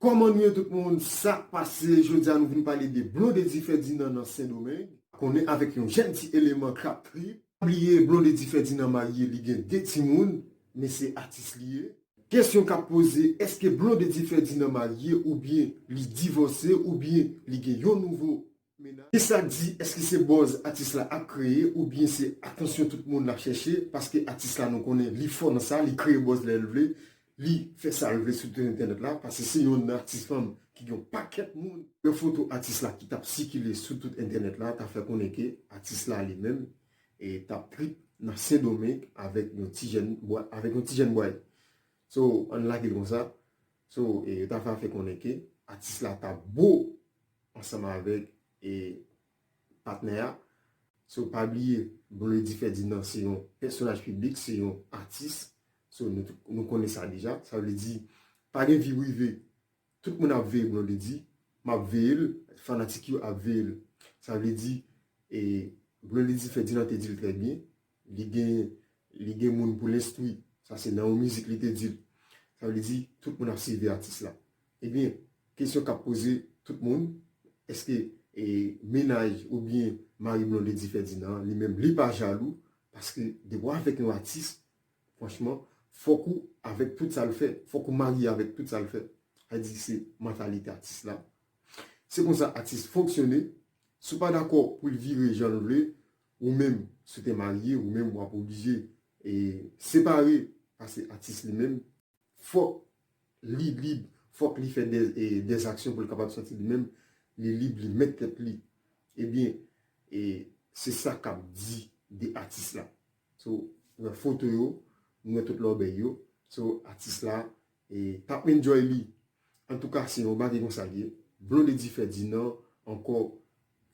Koman nou ye tout moun sak pase jodia nou vin pale de blondedy Ferdinand nan sendomeng. Konnen avek yon jèn ti eleman krap trip. Pa bliye blondedy Ferdinand marye li gen 2 timoun men se atis li ye. Kesyon kap poze eske blondedy Ferdinand marye oubyen li divose oubyen li gen yon nouvo Kisa k di eske se buzz atis la ap kreye ou byen se atansyon tout moun lap chèche paske atis la nou konnen li fò nan sa li kreye buzz lè l vle li fè sa l vle sou tout entènèt la pase se yon nan atis fanm ki gen yon pakèt moun. Yon foto atis la ki tap sikile sou tout entènèt la ta fè konnen ke atis la li menm tap trip nan sendomeng avèk yon ti jèn avèk yon ti jèn bway so ann lage l konsa so yo ta fè konnen ke atis la ta bo ansanm avèk e patnè a. So pa bliye Blondedy Ferdinand se yon pèsonaj piblik, se yon atis. So nou konnen sa deja. Sa vle di pa gen vi prive. Tout moun ap veye Blondedy. M ap veye l. Fanatik yo ap veye l. Sa vle di e Blondedy Ferdinand te di l trè byen. Li gen li gen moun pou l enstwi. Sa se nan yon mizik li te di l. Sa vle di tout moun ap sivi atis la. Ebyen, kesyon k ap poze tout moun, èske mennaj oubyen mari Blondedy Ferdinand an li menm li pa jalou? Paske depi w avèk yon atis, franchman, fòk ou avèk tout sa l fè. Fòk ou marye avèk tout sa l fè. Sa vle di se mantalite atis la. Se konsa atis fonksyone. Si w pa dakò pou l vire jan l vle, Ou menm si w te marye ou menm wap oblije separe pase atis li menm fòk li lib fòk li fè des aksyon pou l kapab santi li menm li lib li mèt tèt li ebyen se sa kap di de atis la sou nan foto yo nou wè tout lòbèy yo sou atis la tap enjoy li antouka se yon bagay konsa l ye Blondedy Ferdinand ankò